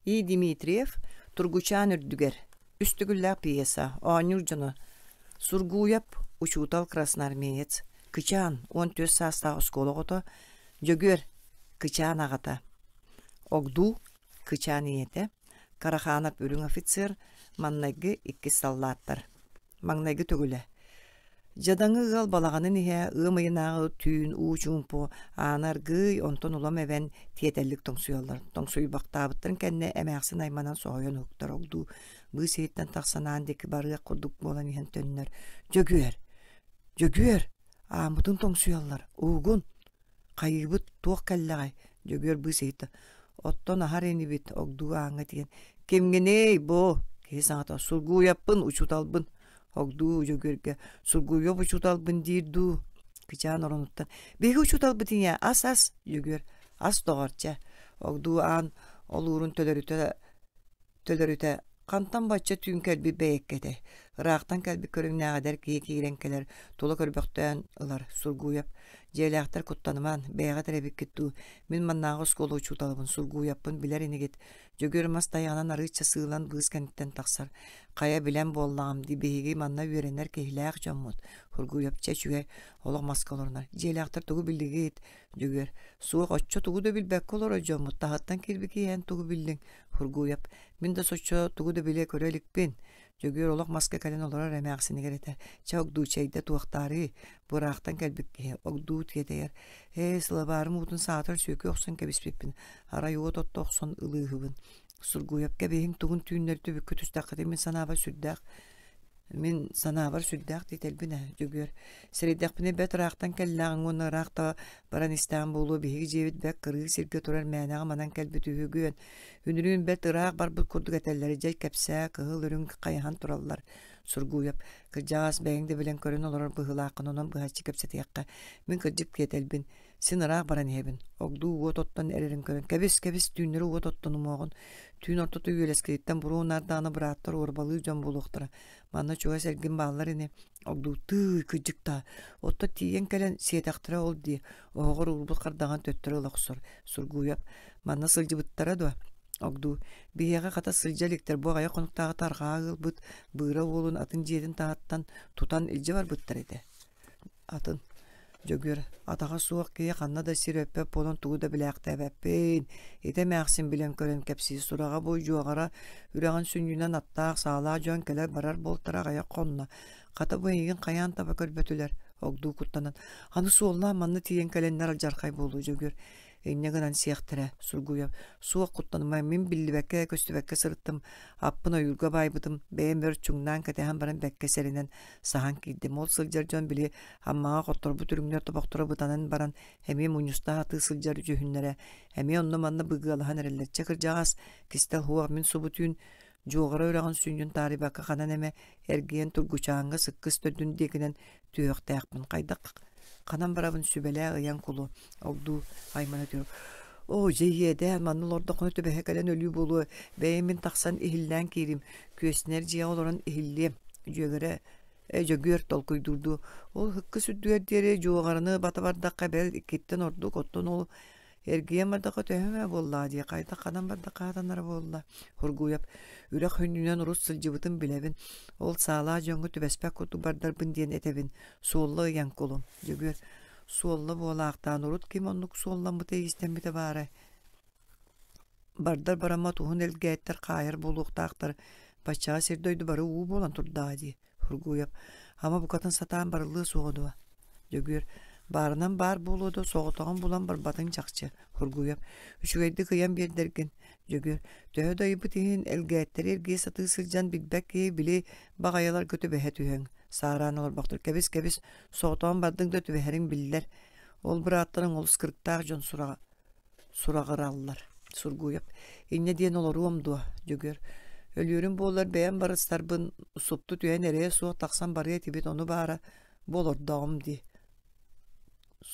И. Дмитриев Тургучаан үрдүгэр үстүгүллээх пьеса оонньуур дьоно Сургууйап, учуутал красноармеец, кычаан уон түөрт саастаах оскуола оҕото Дьөгүөр, кычаан аҕата, Огдуу, кычаан ийэтэ, Караханов үрүҥ офицер, маҥнайгы иккис саллааттар, маҥнайгы төгүлэ, Дьадаҥы ыал балаҕанын иһэ ыам ыйынааҕы түүн уу чуумпу аана аргыый онтон улам эбэн тиэтэллик тоҥсуйаллар тоҥсуйбахтаабыттарын кэннэ эмээхсин айманан соһуйан уһуктар ол дуу быы сиһиттэн тахсан аан диэки барыах курдук буолан иһэн төннөр дьөгүөр дьөгүөр ааммытын тоҥсуйаллар уугун Хайыыбыт туох кэллэҕэй? Дьөгүөр быыс ыйытта. Оттон аһар инибит огдуу ааҥҥа тигэн. Кимгиний бу? Киһи саҥата сургуйаппын, учуталбын. Огдуу Дьөгүөргэ сургуйуоп учуталбын диир дуу? Кычаан оронуттан. Биһиги учуталбыт ийэ ас-ас. Дьөгүөр ас доҕорча. Огдуу аан олуурун төлөрүтэ төлөрүтэ хантан бачча түүн кэлбит бэйэккэ этэй ыраахтан кэлбит көрүҥнээҕэдэр киһи киирэн кэлэр тула көрбөхтөөн ылар сургууйап дьиэлээхтэр куттанымаан бэйэҕит эрэбиккит дуу мин маннааҕы оскуола учууталыбын сургууйаппын билэр инигит дьөгүөр мас тайаҕынан арыычча сыылан быыс кэнниттэн тахсар хайа билэн буоллаҕым дии биһиги манна үөрэнэр киһилээх дьоммут сургууйап чэ үчүгэй олох маска олорунар дьиэлээхтэр тугу биллигит дьөгүөр суох оччо тугу да билбэккэ олорор дьоммут таһыттан киирбит киэһэн тугу биллиҥ Хургуев, мин да соччо тугу да билэ көрө иликпин. Дьөгүөр олох маска кэлэн олорор эмээхсинигэр этэр, «Чэ, огдуу чэйдэ туохтаарыы, бураахтан кэлбит киһи, огдуу тиэтэйэр. Ээ, сылабаарым уутун саатар сүөкү охсон кэбиспиппин, арай уот отто охсон ылыыһыбын. Сургуевка биһиҥ тугун түүннэри түбүккэ түстэххитин мин санааба сүрдээх Мин санаабар сүрдээх дийтэлбин ээ дьөгүөр. Сэрэйдэхпинэ бэт ыраахтан кэллэҕиҥ уонна ыраахта баран истэҕим буолуо биһиги дьиэбит бэрт кырыы сиргэ турар мээнэҕэ манан кэлбит үһүгүн. Үнүрүүн бэт ыраах барбыт курдук этэллэрэ дьэ кэпсээ кыһыл үрүҥ хайаһан тураллар. Сургууйап кырдьаҕас бэйэҥ да билэн көрөн олорор быһыылааххын онон быһаччы кэпсэтиэххэ. Мин кырдьык киэтэлбин. Син ыраах баран иһэбин. Огдуу уот оттон эрэрин көрөн, кэбис, кэбис, түүннэри уот оттон умуоҕун. Түүн ортото үөлэскэриттэн буруо наардаҕына бырааттар уорбалыы дьон буолуохтара. Манна чугас эргин бааллар ини. Огдуутуу кыдьыктаа. Оттон тиийэн кэлэн сиэтэхтэрэ ол дии. Оһоҕор уурбут хардаҕын төттөрү ыла охсор. Сургууйап. Манна сылдьыбыттара дуо? Огдуу. Биһиэхэ хата сылдьа иликтэр бу аҕайах хонуктааҕыта арҕаа ыалбыт Быыра уолун атын дьиэтин таһыттан тутан илдьэ барбыттар этэ. атын Дьөгүөр атаҕа суох киһи ханна да сир өппөт буолан тугу да билээхтээбэппин, ити эмээхсин билэн-көрөн кэпсиир сураҕа бу дьуоҕара үрэҕин сүнньүнэн аттаах саалаах дьон кэлэр-барар буолтара аҕыйах хонно. Хата бу эйигин хайаан таба көрбөтүлэр огдуу куттанан аны суоллаан манна тиийэн кэлэннэр дьархай буолуу Дьөгүөр Инньэ гынан сиэхтэрэ Сургуев суох куттанымай мин биллибэккэ-көстүбэккэ сырыттым, аппын ойуурга баайбытым, бэйэм бэр чуҥнаан кэтэһэн баран бэккэ сэрэнэн саһан киирдим. Ол сылдьар дьон били Аммаҕа хотторбут үрүҥнэр тобохторо бытанан баран эмиэ мунньустаах атыы сылдьар үдьүһүннэрэ эмиэ онно-манна быгыалаһан эрэллэрчэ кырдьаҕас, кистэ уһуох мин субу түүн Дьуоҕара үрэҕин сүнньүн таарыйбакка ханан эмэ эргийэн тургучааҥҥа сыккыс төрдүн диэкинэн түһүөхтээхпин хайдах ханан барабын сүбэлээх ыйан кулу огдуу аймана түһэр оо дьэ иэдээн манна олордоххуна түбэһэ кэлэн өлүү буолуо бэйэм мин тахсан иһиллээн киирим күөснэр дьиэҕэ олорон иһиллиэм дьүөгэрэ Дьөгүөр толкуйдуурдуу ол һыкка сүрдүгэр диэри дьуоҕараны бата бардахха бэл иккиттэн ордук оттон ол Эргийэн бардахха төһө ээ буоллаа дии, хайдах ханан бардахха хатанара буолла. Хургуйап, үрэх хүннүнэн урут сылдьыбытын билэбин. Ол саалаа дьоҥҥо түбэспэт курдук бардарбын диэн этэбин. Суолла ыйан кулум. Дьөгүөр, суолла буолаахтаан урут ким оннук суолламмыта-истэммитэ баара. Бардар бараммат уһун элгээттэр хаайар буолуохтаахтар, баччаҕа сир-дойду бары уу буолан турдаҕа дии, Фургуев, ама букатын сатаан барыллыа суоҕа дуо? Дьөгүөр, баарынан баар буолуо да, соҕотоҕун булан барбатыҥ чахчы, Фургуев, үчүгэйдик ыйан биэрдэргин. Дьөгүөр, төһө да ыйбыт иһин, элгээттэри эргийэ сатыы сылдьан билбэт киһи били баҕайыларга түбэһэ түһүөҥ. Саараан олорбохтор, кэбис-кэбис, соҕотоҕун бардыҥ да түбэһэриҥ биллэр. Ол бырааттарыҥ олус кырыктаах дьон сураҕа. сураҕыраллар. Сургуев, инньэ диэн олоруом дуо? Дьөгүөр, өлүөрүм буоллар бэйэм барыстарбын супту түһэн эрэйэ суох тахсан барыа этибит ону баара бу олордоҕум дии.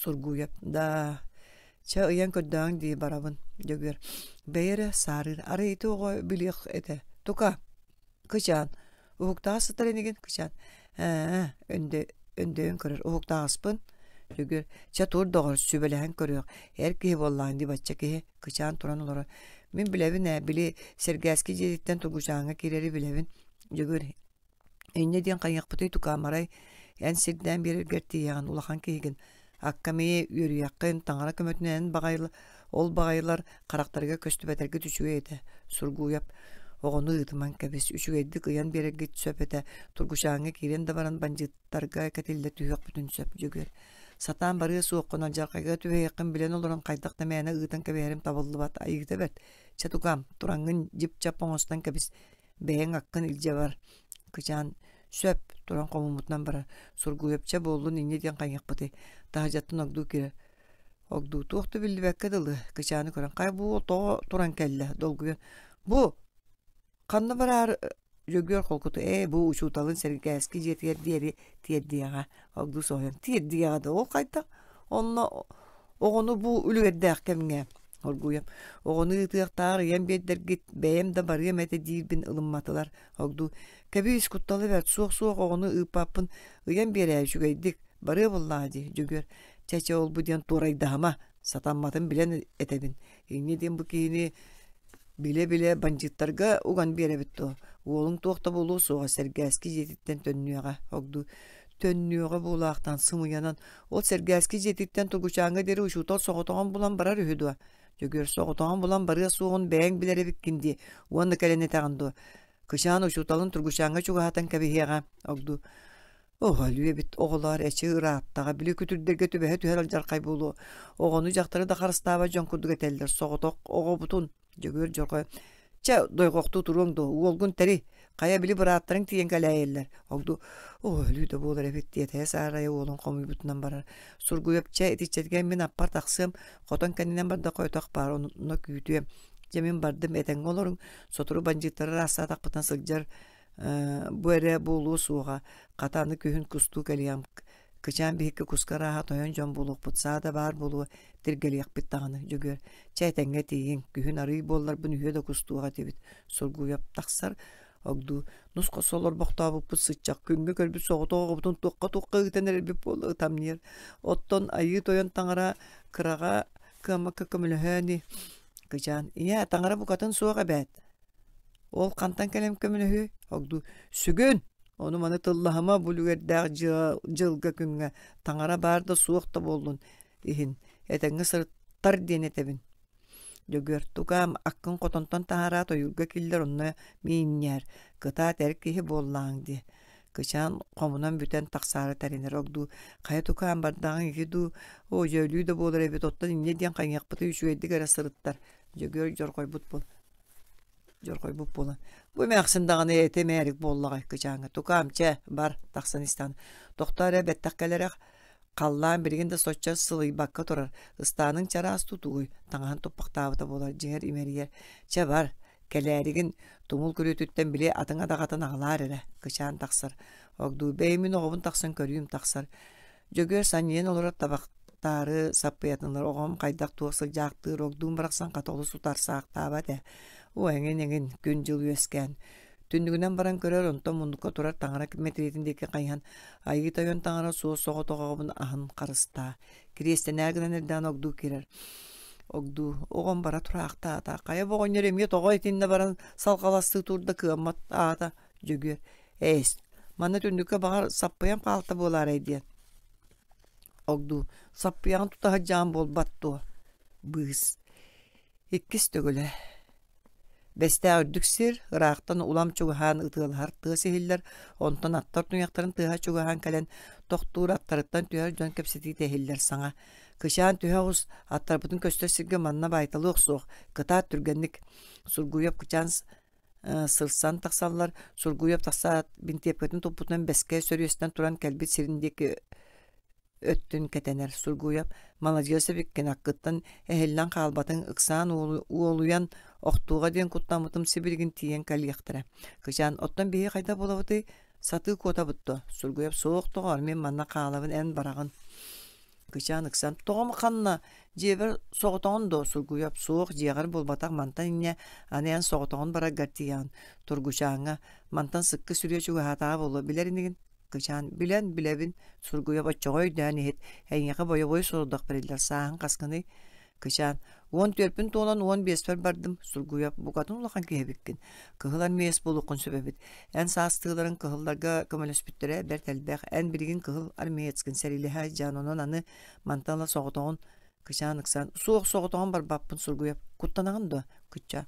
Сургуев, да чэ ыйан көрдөөҥ дии барабын. Дьөгүөр, бэйи эрэ саарыыр, арай ити оҕо билиэх этэ. Тука, кычаан уһуктаҕас сытар инигин кычаан ээ өндө өндөйөн көрөр уһуктаҕаспын сүгүр чэ тур доҕор сүбэлэһэн көрүөх эр киһи буоллаҕын дии бачча киһи кычаан туран олорор мин билэбин ээ били сэргээски дьиэтиттэн тугучааҥҥа киирэри билэбин дьөгүр инньэ диэн хайыахпытый тукаамарай эн сирдээн биэрэргэр тиийэҕин улахан киһигин Аккамыйы үөрүйэххин таҥара көмөтүнэн баҕайылар ол баҕайылар харахтарга көстүбэтэргит үчүгэй этэ Сургуйап оҕону ыытыман кэбис үчүгэйдик ыйан биэрэргит сөп этэ Тургучааҥҥа киирэн да баран бандьыыттарга кэтиллэ түһүөхпүтүн сөп дьүгүр сатаан барыа суоххун алдьархайга түһэйиэххин билэн олорон хайдах да мээнэ ыытан кэбиһэрим табыллыбат айыыта бэрт чэ тукаам тураҥҥын дьип-чап оҥостон кэбис бэйэҥ аккын илдьэ бар кычаан сөп туран хомуммутунан баран сургуйапча буоллун инньэ диэн хайыахпытый таһырдьаттан огдуу киирэ огдуу туох да биллибэккэ дылы кычааны көрөн хай бу тоҕо туран кэллэ долгуйа бу ханна бараар Дьөгүөр холкуту ээ бу учууталын сэргээски дьиэтигэр диэри тиэрдиэҕэ огдуу соһуйан тиэрдиэҕэ да ол хайдах онно Оҕону бу үлүгэрдээх кэмҥэ оргууйам. Оҕону ыытыахтаах ийэм биэрдэргит, бэйэм да барыам этэ диирбин ылымматылар. Ордуу кэбиис куттала бэрт, суох-суох оҕону ыыппаппын, ыйан биэрээ үчүгэйдик, барыа буоллаҕа дии, дьөгүөр. Чэ-чэ ол бу диэн туорайдаһыма, сатамматын билэн этэбин. Инньэ диэн бу киһини билэ-билэ бандьыыттарга уган биэрэбит дуо? Уолуҥ туох да буолуо суоҕа, сэргээски дьиэтиттэн төннүөҕэ. Ордуу төннүөҕэ буолаахтаан сымыйанан Ол Сэргээски дьиэтиттэн Тугучааҥҥа диэри учуутал соҕотоҕун булан барар үһү дуо? Дьөгүөр соҕотоҕун булан барыа суоҕун бэйэҥ билэр эбиккин дии уонна кэлэн этэҕин дуо? Кычаан учууталын Тургучааҥҥа чугаһатан кэбиһиэҕэ огдуу. Оо, өлүү эбит оҕолоор эчи ырааттаҕа били күтүрдэргэ түбэһэ түһэр алдьархай буолуо оҕону дьахтары да харыстаабат дьон курдук этэллэр соҕотох оҕобутун Дьөгүөр дьоҕо чэ дойҕохтуу туруоҥ дуо уолгун тэри хайа били бырааттарыҥ тиийэн кэлээйэллэр огду оо өлүү да буолар эбит тиэтэйэ саарайа уолун хомуйбутунан барар сургуйап чэ итиччэтигэр мин аппар тахсыам хотон кэннинэн бардахха отох баар онно күүтүөм дьэ мин бардым этэҥҥэ олоруҥ сотору бандьыыттары ыраастаатахпытына сылдьар бу эрэ буолуо суоҕа хата аны күһүн кустуу кэлиэм Кычаан биһикки куска арааһа тойон дьон буолуохпут саа да баар буолуо, тиргэлиэхпит даҕаны, Дьөгүөр. Чэ этэҥҥэ тиийиҥ, күһүн арыый буолларбын үһүө да кустуох этибит. Сургуйап тахсар, огдуу нусха солор бохтообуппут сыччах күҥҥэ көрбүт соҕотоҕобутун туохха-туохха ыытан эрэрбит буолла тамниер. Оттон айыы тойон таҥара кыраҕа кыаммакка көмөлөһөө ини. Кычаан, ийээ, таҥара букатын суох эбээт. Ол хантан кэлэн көмөлөһүөй? Огдуу сүгүн! Ону-маны тыллаһыма бу үлүгэрдээх дьылга-күҥҥэ таҥара баар да суох да буоллун иһин этэҥҥэ сырыттар диэн этэбин. Дьөгүөр тукаам аккын хотонтон таһаараат ойуурга киллэр онно миинньээр, кытаат эр киһи буоллаҕыҥ дии. Кычаан хомунан бүтэн тахсаары тэринэр огдуу хайа тукаам бардаҕыҥ ити дуу оо дьөөлүү да буолар эбит оттон инньэ диэн хайыахпытый үчүгэйдик эрэ сырыттар. Дьөгүөр дьорҕойбут буол дьорхойбут буолан бу эмээхсин даҕаны эти мээрик буоллаҕай кычааҥҥа тукаам чэ бар тахсан истэҕин тохтоо эрэ бэттэх кэлэрэх халлаан билигин да соччо сылыйбакка турар ыстааныҥ чараас тутугуй таҥаһын туппахтаабыта буолар дьиҥэр имэрийэр чэ бар кэлээригин тумул күрүөтүттэн били атыҥ адаҕатын аҕалаар эрэ кычаан тахсар огдуй бэйи мин оҕобун тахсан көрүүм тахсар Дьөгүөр санньыйан олорор табахтаары саппыйатын ылар оҕом хайдах туох сылдьаахтыыр, огдуун барахсан хата олус утарсаахтаабат ээ. Уу эҥин эҥин күн-дьыл үөскээн түннүгүнэн баран көрөр онтон муннукка турар таҥара мэтириэтин диэки хайыһан айыы тойон таҥара суос соҕотох оҕобун аһын харыстаа кириэстэнээр гынан эрдэҕин огдуу киирэр огдуу оҕом бара тураахтаата хайа бу оҕонньор эмиэ тоҕо итиннэ баран салҕаластыы турда кыаммат аата дьөгүөр Эйс, манна түннүккэ баҕар саппыйан хаалта буолаарай диэн. Огдуу, саппыйаҕын тута сылдьаан буолбат дуо? Быыс. Иккис төгүлэ. Бэстээх үрдүк сир, ыраахтан улам чугаһаан ытыалаһар тыас иһиллэр, онтон аттар туйахтарын тыаһа чугаһаан кэлэн, тохтуур аттарыттан түһэр дьон кэпсэтиитэ иһиллэр саҥа. Кычаан түһэ оҕус, аттарбытын көстөр сиргэ манна баайталыах суох, кытаат түргэнник. Сургуев кычаан сырсан тахсаллар Сургуев тахсаат бинтиэпкэтин туппутунан бэскэ сөрүөстэн туран кэлбит сирин диэки өттүн кэтэнэр Сургуев маладьыас эбиккин аккыттан эһиллэн хаалбатын ыксаан уолуйан охтууга диэн куттаммытым сибилигин тиийэн кэлиэхтэрэ кычаан оттон биһи хайда буолабытый сатыы куотабыт дуо Сургуев суох доҕоор мин манна хаалабын эн бараҕын кычаан ыксам тоҕом ханна дьиэбэр соҕотоҕун доо сургуйап суох дьиэҕэр булбатах мантан инньэ аны эн соҕотоҕун бараргар тиийэн тургучааҥҥа мантан сыкка сүрүө чугаһаатаҕа буолуо билэр инигин кычаан билэн билэбин сургуйап оччоҕо өйдөөн иһит эйиэхэ бойобуой сорудах бэриллэр сааһыҥ хасхыный Кычаан, уон түөрпүн туолан уон биэспэр бардым, сургуйах букатын улахан киһи эбиккин. Кыһыл эн миэс булуккун сөбөбүт. Эн саастыыларын кыһылларга көмөлөспүттэрэ бэрт элбэх. Эн билигин кыһыл армеецкин сэриилэһэ дьаан онон аны мантан ыла соҕотоҕун Кычаан ыксаан, суох соҕотоҕун барбаппын сургуйап, куттанаҕын дуо? Кычаа,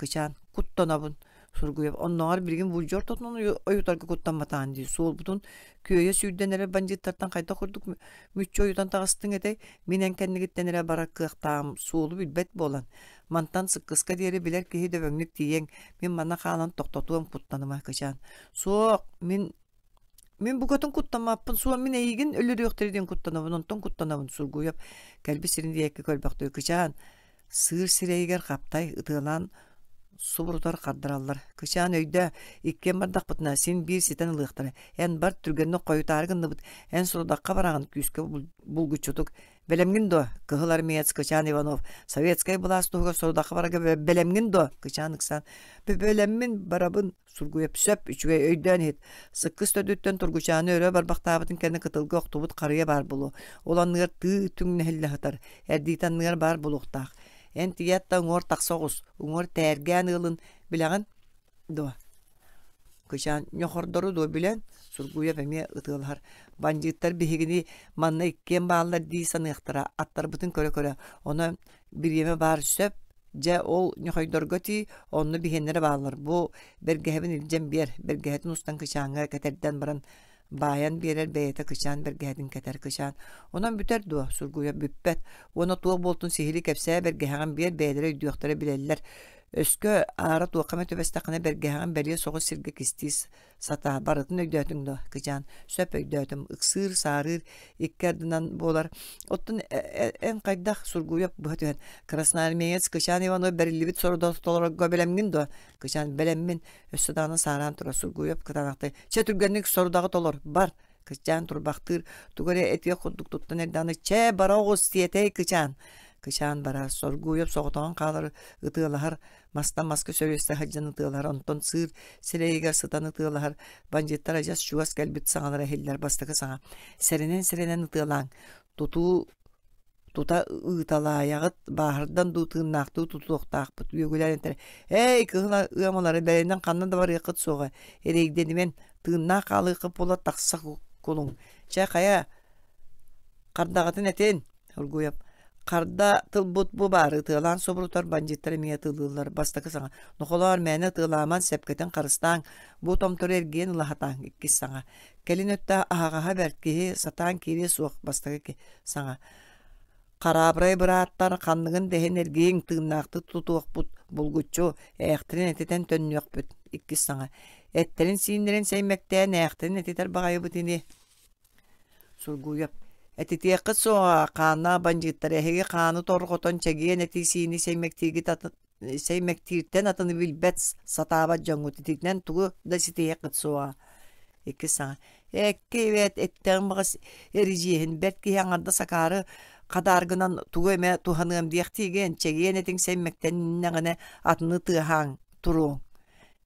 кычаан куттанабын сургуев оннооҕор билигин вульжор тотунан ойутарга куттамматаан дии суолбутун күөйэ сүүрдэн эрэ бандьыыттартан хайдах курдук мүччү ойутан таҕыстыҥ этэй мин эн кэннигиттэн эрэ бара кыахтаам суолу билбэт буолан мантан сыккыска диэри билэр киһи дөбөҥнүк тиийиэҥ мин манна хаалан тохтотуом куттаныма кычаан суох мин Мин букатын куттаммаппын, суоммин эйигин өлөрүөхтэри диэн куттанабын, онтон куттанабын, сургуйап кэлби сирин диэки көлбөхтүү кычаан, сыыр сирэйигэр хаптай ытыалаан субурутар хардараллар. Кычаан өйдөө, иккиэн бардахпытына син биир ситэн ылыахтара. Эн бар түргэнник хойутаары гынныбыт, эн сорудахха бараҕын күүскэ булгуччутук. Бэлэмҥин дуо? Кыһыл армеец Кычаан Иванов советскай былаас туһугар сорудахха барарга бэлэмҥин дуо? Кычаан ыксаан, бэлэммин барабын. сургуйап сөп үчүгэй өйдөөн иһит сыккыс төрдүттэн тургучааны өрө барбахтаабытын кэннэ кытылга охтубут харыйа баар болуо ол анныгар тыы түҥ нэһиллэ сытар эрдиит анныгар баар булуохтаах эн тиятта уҥуор тахса оҕус уҥуор тээргээн ыылын билэҕин дуо кычаан ньохордору дуо билэн сургуйап эмиэ ытыалаһар бандьыыттар биһигини манна иккиэн бааллар дии саныахтара аттарбытын көрө-көрө ону бириэмэ баар сөп. Дьэ, ол ньохойдорго тии, онно биһиэннэрэ бааллар. Бу бэргэһэбин илдьэн биэр, бэргэһэтин устан кычааҥҥа кэтэрдэн баран баайан биэрэр, бэйэтэ кычаан, бэргэһэтин кэтэр кычаан. Онон бүтэр дуо? Сургуйа бүппэт. Уонна туох буолтун сиһилии кэпсээ, бэргэһэҕин биэр, бэйэлэрэ өйдүөхтэрэ билэллэр. Өскө аара туохха эмэ түбэстэххинэ, бэргэһэҕин бэлиэ соҕус сиргэ кистии сатаа барытын өйдөөтүҥ да кычаан сөп өйдөөтүм ыксыыр саарыыр икки ардынан буолар оттон эн хайдах сургуйап быһа түһэн красноармеец кычаан иванов бэриллибит сорудо толорорго бэлэмҥин дуо кычаан бэлэммин өссө даҕаны саараан турар сургуйап кытаанахтай чэ түргэнник сорудаҕы толор бар кычаан турбахтыыр тугу эрэ этиэх курдук туттан эрдэҕинэ чэ бара оҕус сиэтэй кычаан кычаан барар соргуйап соҕотоҕун хаалар ытыалаһар мастан-маска сөрүөстэ сылдьан ытыалаһар, онтон сыыр сирэйигэр сытан ытыалаһар, бандьыыттар адьас чугас кэлбит саҥалара иһиллэр бастакы саҥа. Сэрэнэн-сэрэнэн ытыалааҥ. Тутуу тута ыыталаайаҕыт, бааһырдан дуу тыыннаахтыы тутуохтаахпыт, үөгүлээнтэрэ, «Эй, кыһыл ыамалары бэйэнэн ханна да барыаххыт суоҕа, эрэйдэнимэн, тыыннаах хаалыаххыт буола тахса кулуҥ. Чэ, хайа, хардаҕытын этин!» Ольгуев харда тылбыт бу баары ытыалаан собурутар бандьыттар эмиэ ытылыыллар бастакы саҥа нохолоор мээнэ ытыалааман сэпкэтин харыстааҥ бу томтору эргийэн ылаһатааҥ иккис саҥа кэлин өттө аһаҕаһа бэрт киһи сатаан киириэ суох бастакы саҥа хараабырай бырааттар ханныгын дэһин эргийиҥ тыыннаахтык тутуохпут булгуччу ээхтэрин этитэн төннүөхпүт иккис саҥа эттэрин сииннэрин сэймэктээн ээхтэрин этитэр баҕайыбыт ини Сургуйап, этитиэххит суоҕа, хааннаах бандьыыттар эһиги хааны торҕотон чэгиэн этии-сиини сэймэктииртэн атыны билбэт сатаабат дьоҥҥут ититинэн тугу да ситиһиэххит суоҕа. Икки саҥа. Экки эбээт эттэҕим баҕас эридьиэһин бэрт киһи аҥардас акаары хадааргынан тугу эмэ туһаныам диэхтиигин, чэгиэн этиҥ сэймэктэннэҕинэ атыны тыаһааҥ, туруоҥ.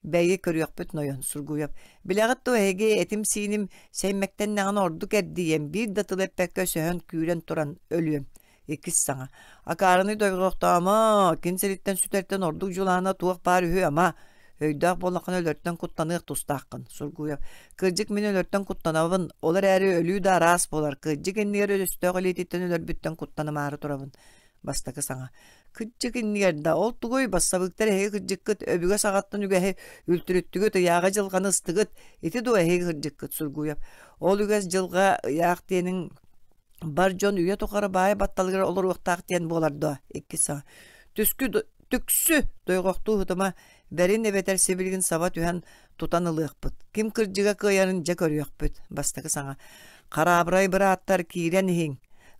Бэйи, көрүөхпүт нойон, Сургуев. Билэҕит дуо, эһиги этим-сииним сэймэктэннэҕинэ ордук эрдийиэм, биир да тыл эппэккэ сөһөн күүрэн туран өлүөм. Иккис саҥа. Акаарыны дойҕохтоомо, кин сириттэн сүтэртэн ордук дьулаана туох баар үһү ама. Өйдөөх буоллаххына өлөртөн куттаныах тустааххын, Сургуев. Кырдьык мин өлөртөн куттанабын, ол эрээри өлүү да араас буолар. Кырдьык иннигэр өстөөх илиититтэн өлөрбүттэн куттанымаары турабын. бастакы саҥа кырдьык иннигэр да ол тугуй бассабыыктар эһиги кырдьыккыт өбүгэ саҕаттан үгэһи үлтүрүттүгүт ыйааҕы дьылҕаны ыстыгыт ити дуо эһиги кырдьыккыт сургуйап ол үгэс дьылҕа ыйаах диэниҥ бар дьон үйэ тухары баайы батталыгар олоруохтаах диэн буолар дуо иккис саҥа түскү түксү дойҕохтуу һытыма Бэрин эбэтэр сибилигин саба түһэн тутан ылыахпыт. Ким кырдьыга кыайарын дьэ көрүөхпүт. Бастакы саҥа. Хараабырай бырааттар киирэн иһиҥ.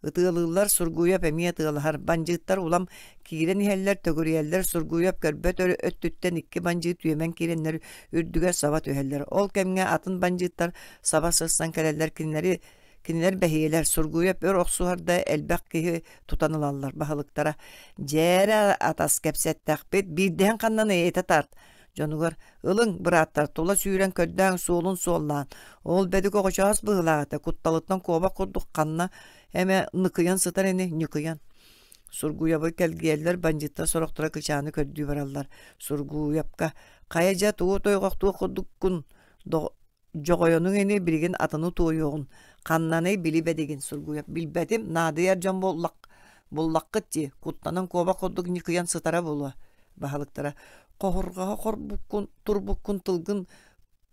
Ытыалыыллар Сургуйап эмиэ ытыалаһар. Бандьыыттар улам киирэн иһэллэр, төгүрүйэллэр. Сургуйап көрбөт өттүттэн ikki бандьыыт түөмэн киирэннэр үрдүгэр саба түһэллэр. Ол кэмҥэ атын бандьыыттар саба сырсан кэлэллэр кинилэри Кинилэр бэһиэлэр Сургуйап өр охсуһарда элбэх киһи тутан ылаллар баһылыктара. Дьээрэ атас кэпсэттэхпит, биирдэһин ханнан эйэтэ тарт. Дьонугар ылың бырааттар тула сүүрэн көрдөөн суолун суоллаан, ол бэдик оҕочоос быһылаата кутталыттан куобах курдук ханна эме ныкыйан сытар ини ньыкыйан. Сургуйабы кэлгиэллэр бандьыттар сорохтура кычааны көрдүү бараллар. Сургуйапка хайа дьа туо тойғохтуох курдуккун Дьоҕойонуҥ ини билигин атыны-туойуоҕун, ханнаный били бэдигин сургуйар. Билбэтим, наадыйар дьон буоллах буллаххыт дии, куттанан куобах курдук ньыкыйан сытара буолуо баһылыктара хоһурҕаһа хорбуккун турбуккун тылгын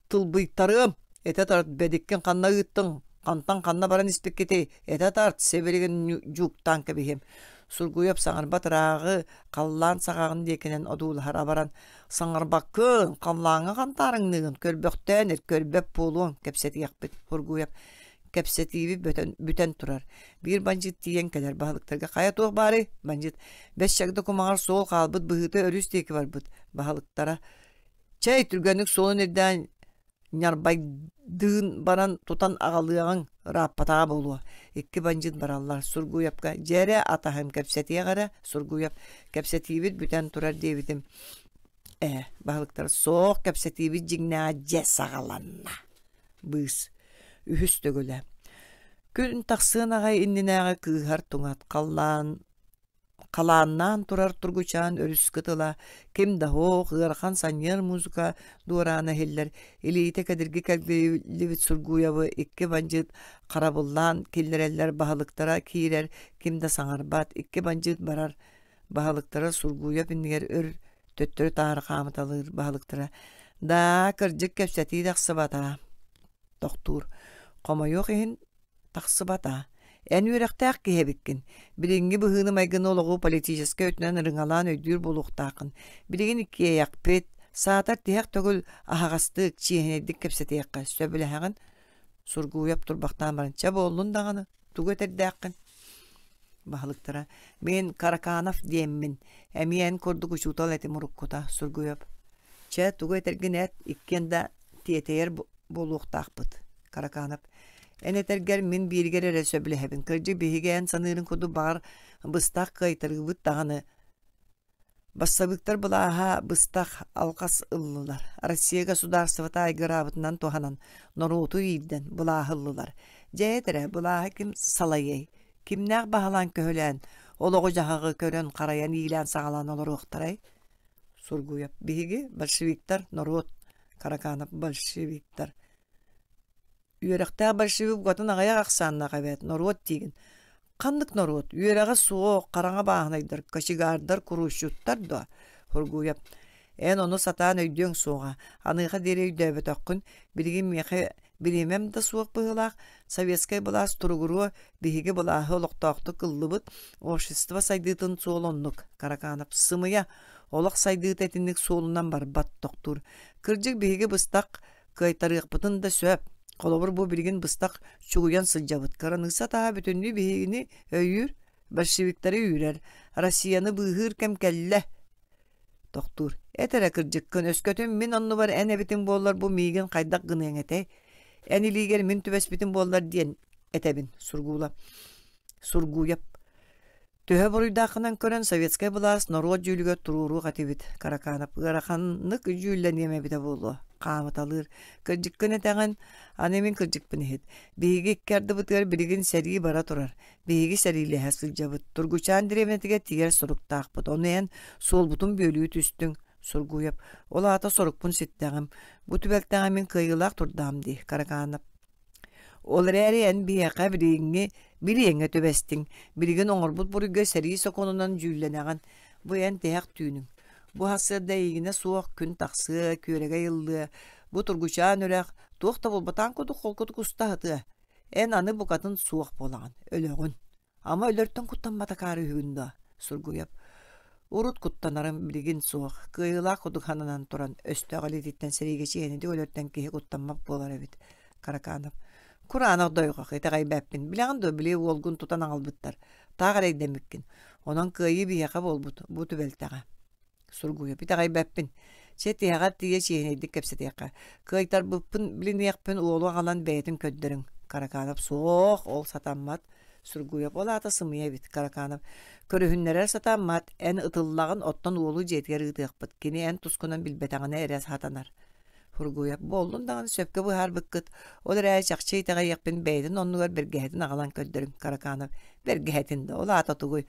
тылбыйтарыам этэ тарт бэдиккин ханна ыыттыҥ хантан ханна баран испиккитий этэ тарт сэбиригин дьууктаан кэбиһиэм сургуйап саҥарбат ырааҕы халлаан саҕаҕын диэкинэн одуулаһар абаран Саҥарбаккын, халлааҥҥа хантаарыҥныгын көрбөхтөөн эр, көрбөт буолуоҥ, кэпсэтиэхпит, Кургуев кэпсэтииби бүтэн, бүтэн турар. Биир бандьыыт тиийэн кэлэр баһылыктарга хайа туох баарый? Бандьыыт бэс чагда кумаҕар суол хаалбыт быһыыта өрүс диэки барбыт баһылыктара. Чэй түргэнник суолун ирдээн Ньарбайдыын баран тутан аҕалыаҕыҥ ырааппатаҕа буолуо икки бандьыыт бараллар Сургуйапка дьиэрэ атаһым кэпсэтиэх эрэ Сургуйап кэпсэтиибит бүтэн турар диэбитим ээ баһылыктар суох кэпсэтиибит дьиҥнээх дьэ саҕаланна быыс үһүс төгүлэ күн тахсыан аҕай иннинээҕи кыыһар туҥат халлаан халааннаан турар Тургучаан өрүскэ тыла, ким да һуох, ыарахан санньыар музыка дуораана иһиллэр, илиитэ кэдирги кэлбилибит сургуйабы икки бандьыыт харабыллаан киллэрэллэр баһылыктара киирэр, ким да саҥарбат, икки бандьыыт барар баһылыктара сургуйа иннигэр өр төттөрү таары хаамыталыыр баһылыктара даа кырдьык кэпсэтии тахсыбата тохтуур хомойуох иһин Тахсыбата. Эн үөрэхтээх киһи эбиккин. Билиҥҥи быһыыны-майгыны олоҕу политическай өттүнэн ырыҥалаан өйдүүр буолуохтааххын. Билигин иккиэйэхпит, саатар тиһэх төгүл аһаҕастык, чиэһинэйдик кэпсэтиэххэ сөбүлэһэҕин. Сургууйап турбахтаан баран, чэ буоллун даҕаны, тугу этэрдээххин? Баһылыктара, мин Караканов диэммин, эмиэ эн курдук учуутал этим уруккута, Сургуйап. Чэ, тугу этэргин эт, иккиэн да тиэтэйэр буолуохтаахпыт. Караканов. Эн этэргэр мин бииригэр эрэ сөбүлэһэбин. Кырдьык биһиги эн саныырын курдук баҕар быстах кыайтарыыбыт даҕаны. Бассабыыктар былааһа быстах алҕас ыллылар. Россияга судаарыстыбата айгыраабытынан туһанан норуоту иирдэн былааһы ыллылар. Дьэ этэрэ, былааһы ким салайыай? Кимнээх баһылаан көһүлээн олоҕу-дьаһаҕы көрөн-харайан иилээн-саҕалаан олоруохтарай? Сургуев, биһиги большевиктар, норуот. Караканов, большевиктар. Үөрэхтээх большевик угатын аҕыйах ахсааннаах эбээт, норуот диигин. Ханнык норуот? Үөрэҕэ суох, хараҥа бааһынайдар, кочегардар, куруусчуттар дуо? Хургууйап, эн ону сатаан өйдүөҥ суоҕа. Аныаха диэри өйдөөбөтөххүн, билигин миэхэ бириэмэм да суох быһыылаах, советскай былаас туругуруо, биһиги былааһы олохтоохтук ыллыбыт, общество сайдыытын суол оннук. Караканов, сымыйа, олох сайдыыта итинник суолунан барбат тохтуур. Кырдьык биһиги быстах кыайтарыахпытын да сөп. Холобур, бу билигин быстах чугуйан сылдьабыт. Кыраныысса таһа бүтүннүү биһигини өйүүр, большевиктары үүрэр, Россияны быыһыыр кэм кэллэ. Тохтуур. Эт эрэ кырдьыккын, өскөтүн мин оннубар эн эбитин буоллар бу миигин хайдах гыныаҥ этэй? Эн илиигэр мин түбэспитим буоллар диэн этэбин, Сургуула. Сургуйап. Төһө буруйдааххынан көрөн, советскай былаас норуот дьүүлүгэр туруоруох этибит. Караканов ыараханнык дьүүллэниэм эбитэ буолуо. Хаамыталыыр. Кырдьыккын этэҕин, аны мин кырдьыкпын иһит. Биһиги икки ардыбытыгар билигин сэрии бара турар. Биһиги сэриилэһэ сылдьабыт. Тургучаан дэриэбинэтигэр тигэр соруктаахпыт. Ону эн суолбутун бүөлүү түстүҥ. Сургуев, ол аата сорукпун ситтэҕим. Бу түбэлтэҕэ мин кыайыылаах турдаам дии, Караканов. Ол эрээри эн биһиэхэ билиҥҥи билиэҥҥэ түбэстиҥ. Билигин оҥорбут буруйга сэрии сокуонунан дьүүллэнэҕин. Бу эн тиһэх түүнүҥ. Бу сарсыарда эйигинэ суох күн тахсыа, күөрэгэй ыллыа. Бу тургучаан үрэх туох да булбатаҥ курдук холкутук уста сатыа. Эн аны букатын суох буолаҕын, өлөҕүн. Ама өлөртөн куттаммата каарыыһыгын доо? Сургуйап урут куттанарым билигин суох. Кыайыылаах кудук хананан туран өстөөх илиититтэн сэриигэчиһэни диги өлөртөн киһи куттаммат буолар эбит. Караканов. Кураанах дойҕох, итэҕэйбэппин. Билэҕин дуо били уолгун тутан аҕалбыттар. Таах эрэйдэммиккин. Онон кыайыы биһиэхэ буолбут. Бу түбэлтэҕэ. Сургуйуппут аҕайбаппын. Чэ, тиһэҕэр тиийэ чиэһинэйдик кэпсэтиэххэ. Кыайтарбыппын билиниэхпин уолу аҕалан бэйэтин көрдөрүҥ. Караканов суох, ол сатаммат. Сургуев ол аата сымыйа эбит, Караканов. Көрүһүннэрэр сатаммат, эн ытыллаҕын, оттон уолу дьиэтигэр ыытыахпыт. Кини эн тускунан билбэтэҕинэ эрэ сатанар. Фургуев буоллун даҕаны сөпкө быһаарбыккыт. Ол эрээри чахчы итэҕэйиэхпин бэйэтин оннугар бэргэһэтин аҕалан көрдөрүҥ, Караканов. Бэргэһэтин да, ол аата тугуй?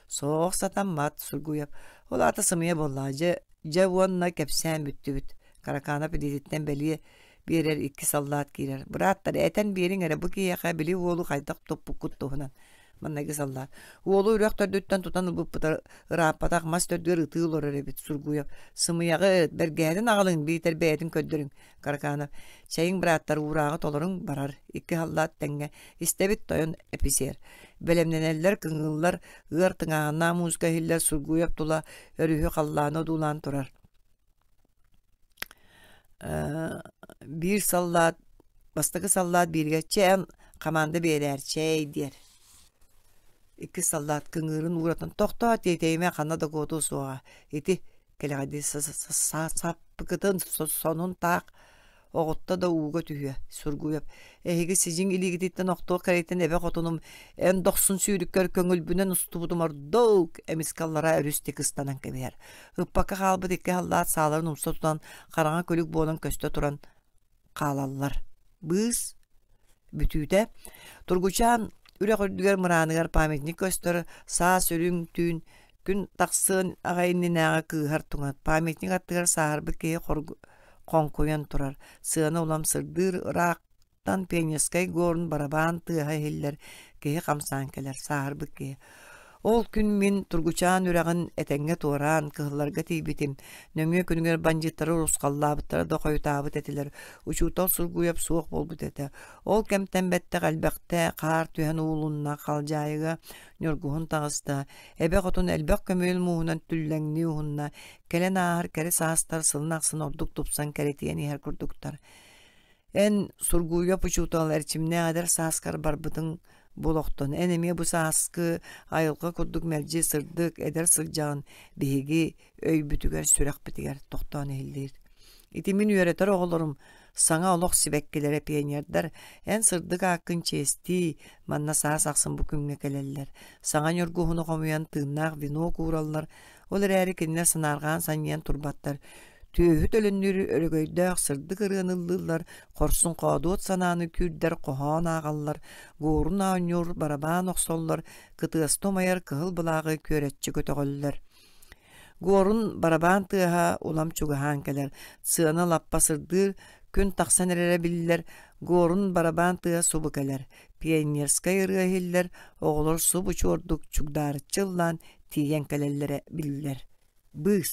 Соох сатаммат, Сургуев. Ол аата сымыйа буоллаҕа. Дьэ, дьэ уонна кэпсээн бүттүбүт. Караканов илиититтэн бэлиэ биэрэр икки саллаат киирэр. Бырааттар, этэн биэриҥ эрэ, бу киһиэхэ били уолу хайдах туппуккут туһунан. Манныгы саллаат. Уолу үрэх төрдүттэн тутан ылбыппыта ырааппатах мас төрдүгэр ытыы олорор эбит Сургуев. Сымыйаҕыт, бэргэһэтин аҕалыҥ, биитэр бэйэтин көрдөрүҥ. Караканов, чэйиҥ бырааттар уурааҕы толоруҥ барар икки халлаат тэҥҥэ истэбит тойон эписиэр. Бэлэмнэнэллэр, кыҥыыллар, ыар тыҥааһыннаах музыка иһиллэр Сургуев тула өрүһү халлааны одуулаан турар. биир саллаат бастакы саллаат бииргэ чээн хамаанда биэрээр чэй диэр иккис саллаат кыҥыырын уратан тохтоо тиэтейимэ ханна да куотуу суоҕа ити кэлэҕэйдии саппыкытын сонун таах оҕотто да ууга түһүө сургуйап эһиги сидьиҥ илиигититтэн охтуох кэрийтэн эбэ хотунум эн дохсун сүүрүккэр көҥүлбүнэн устубутум ордук эмискэ аллараа өрүс тик ыстанан кэбиһэр ыппакка хаалбыт икки халлаат сааларын умса тутан хараҥа күлүк буолан көстө туран хаалаллар. Быыс бүтүүтэ Тургучаан үрэх үрдүгэр мырааныгар памятник көстөр саас үрүҥ түүн күн тахсыан аҕа иннинээҕи кыыһар туҥат памятник аттыгар сааһырбыт киһи хоргу хоҥкуйан турар сыана улам сырдыыр ыраахтан пионерскай горн барабаан тыаһа иһиллэр киһи хамсаан кэлэр сааһырбыт киһи Ол күн мин Тургучаан үрэҕин этэҥҥэ туораан, кыһылларга тиийбитим. Нөҥүө күнүгэр бандьыыттары урусхаллаабыттара да хойутаабыт этилэр. Учуутал сургуйап суох буолбут этэ. Ол кэмтэн бэттэх элбэхтэ хаар түһэн уулунна, халдьаайыга ньургуһун таҕыста. Эбэ хотун элбэх көмүөл мууһунан түллэҥнии уһунна. Кэлэн ааһар кэрэ саастар сылын ахсын ордук тупсан кэрэтийэн иһэр курдуктар. Эн сургууйа учуутал эрчимнээх эдэр сааскар барбытыҥ булохтон. Эн эмиэ бу сааскы айылҕа курдук мэлдьи сырдык, эдэр сылдьаҕын биһиги өйбүтүгэр, сүрэхпитигэр тохтоон иһиллиир. Ити мин үөрэтэр оҕолорум саҥа олох сибэккилэрэ, пионердар эн сырдык ааккын чиэстии, манна саас ахсын бу күҥҥэ кэлэллэр. Саҥа ньургуһуну хомуйан тыыннаах вино куураллар, Ол эрээри кинилэр санаарҕаан санньыйан турбаттар. Түөһүт өлөннүүрү өрөгөйдөөх сырдык ырыаны ыллыыллар, хорсун хоодуот санааны күүрдэр хоһоон ааҕаллар, гуорун оонньуур барабаан охсоллор, кытыасты умайар кыһыл былааҕы күөрэччи көтөҕөллөр. Гуорун барабаан тыаһа улам чугаһаан кэлэр, сыана лаппа сырдыыр, күн тахсан эрэрэ биллэр, Гуорун барабаан тыа субу кэлэр. Пионерскай ырыа иһиллэр, оҕолор суб учуордук чугдаарыччы ыллаан тиийэн кэлэллэрэ биллэр. Быыс